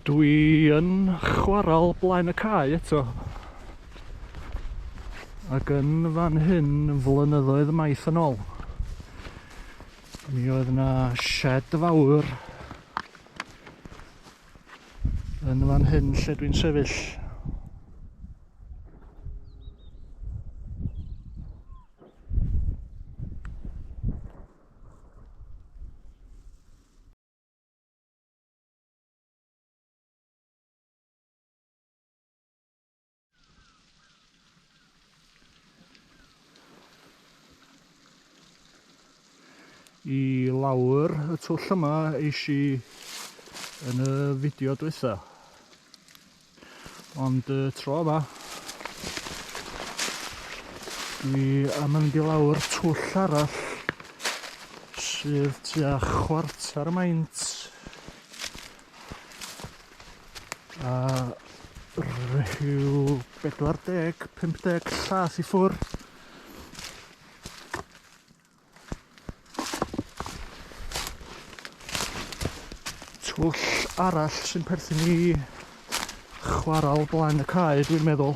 Dwi yn chwarael blaen y cae eto. Ac yn fan hyn flynyddoedd maith yn ôl. Mi oedd yna shed fawr Yn fan hyn lle dwi'n sefyll. i lawr y twll yma eisi yn y fideo dwytha. Ond y tro yma, dwi am mynd i lawr twll arall sydd tua chwarter y maint A rhyw 40, 50 llas i ffwr. Twll arall sy'n perthyn i chwarael blaen y cae dwi'n meddwl.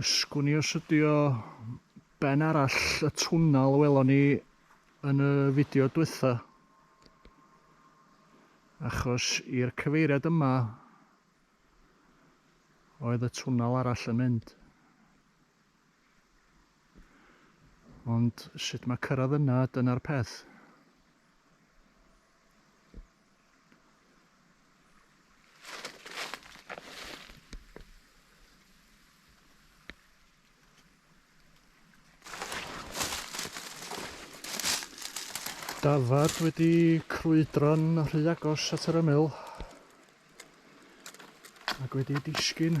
Ysgwni os ydi o ben arall y twnnel welon ni yn y fideo dwytha. Achos i'r cyfeiriad yma oedd y twnnel arall yn mynd. Ond sut mae cyrraedd yna, dyna'r peth. dafad wedi crwydro'n rhy agos at yr ymyl ac wedi disgyn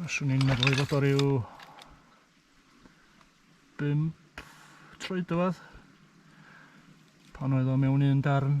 Baswn i'n meddwl ei fod o ryw 5 troedfedd pan oedd o mewn un darn.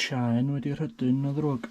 Chaen wedi rhydyn na ddrwg.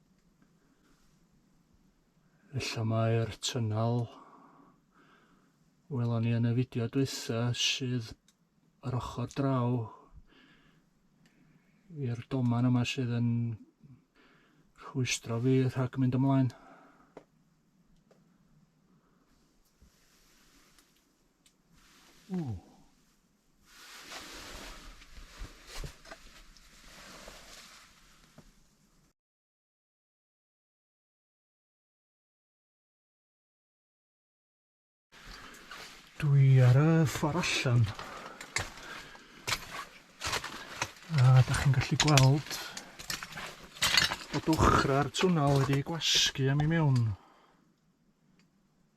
Felly mae'r tynnal welon ni yn y fideo dwytha sydd yr ochr draw i'r doman yma sydd yn rhwystro fi rhag mynd ymlaen. Ooh. Dwi ar y ffordd allan. A da chi'n gallu gweld bod ochrau'r twnal wedi gwasgu am i mewn.